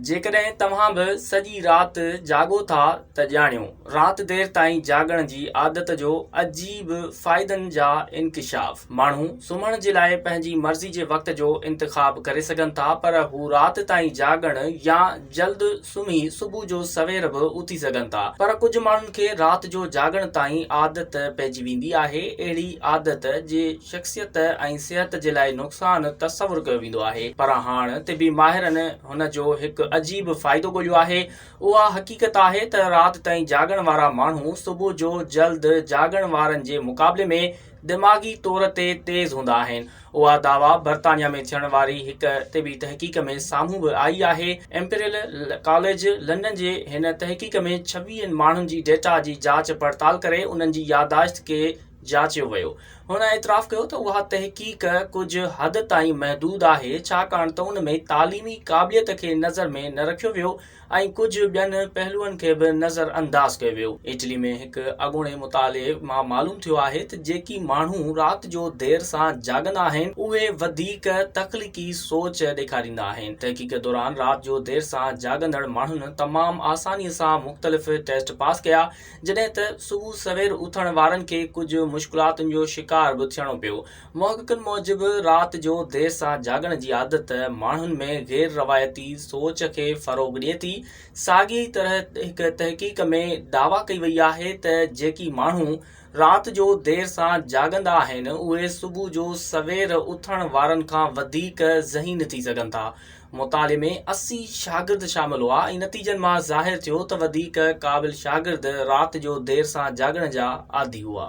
جيڪڏهن توهان به سڄي رات جاڳو ٿا ته ڄاڻيو، رات دير تائين جاڳڻ جي عادت جو عجيب فائدن جا انڪشاف. ماڻهو سمهڻ جي لاء پنهنجي مرضي جي وقت جو انتخاب ڪري سگهن ٿا پر هو رات تائين جاڳڻ يا جلد سمهي صبح جو سوير به اٿي سگهن ٿا پر ڪجهه ماڻهن کي رات جو جاڳڻ تائين عادت پئجي ويندي آهي اهڙي عادت جي شخصيت ۽ صحت جي لاء نقصان تصور ڪيو ويندو آهي پر هاڻ طبي ماهرن هن جو هڪ عجيب فائدو ڳوليو آهي اها حقيقت آهي ته رات تائين جاڳڻ وارا ماڻهو صبح جو جلد جاڳڻ وارن جي مقابلي ۾ دماغي طور تي تيز هوندا آهن اها دعويٰ برطانيا ۾ ٿيڻ واري هڪ طبي تحقيق ۾ سامهون به آئي آهي امپريل ڪاليج لنڊن جي هن تحقيق ۾ ڇويهن ماڻهن جي ڊيٽا جي جاچ پڙتال ڪري انهن جي يادداشت کي جاچيو ويو. هن اعتراف ڪيو ته اها تحقيق ڪجهه حد تائين محدود آهي، ڇاڪاڻ ته ان ۾ تعليمي قابليت کي نظر ۾ نه رکيو ويو ۽ ڪجهه ٻين پهلوئن کي به نظر انداز ڪيو ويو. اٽلي ۾ هڪ اڳوڻي مطالعي مان معلوم ٿيو آهي ته جيڪي ماڻهو رات جو دير سان جاڳندا آهن، اهي وڌيڪ تخليقي سوچ ڏيکاريندا آهن. تحقيق دوران رات جو دير سان جاڳندڙ ماڻهن تمام آسانيء سان مختلف ٽيسٽ پاس ڪيا، جڏهن ته صبح سوير اٿڻ وارن کي ڪجهه مشڪلاتن جو شڪار به ٿيڻو پيو. محققن موجب رات جو دير سان جاڳڻ جي عادت ماڻهن ۾ غير روايتي سوچ کي فروغ ڏئي ٿي. ساڳي ئي طرح هڪ تحقيق ۾ دعويٰ ڪئي وئي آهي ته جيڪي ماڻهو رات جو دير سان جاڳندا آهن اهي صبح جو سوير اٿڻ وارن کان وڌيڪ ذهين ٿي سگهن ٿا. مطالعي ۾ اسي شاگرد شامل هئا ۽ نتيجن مان ظاهر ٿيو ته وڌيڪ قابل شاگرد رات جو دير سان جاڳڻ جا عادي هئا.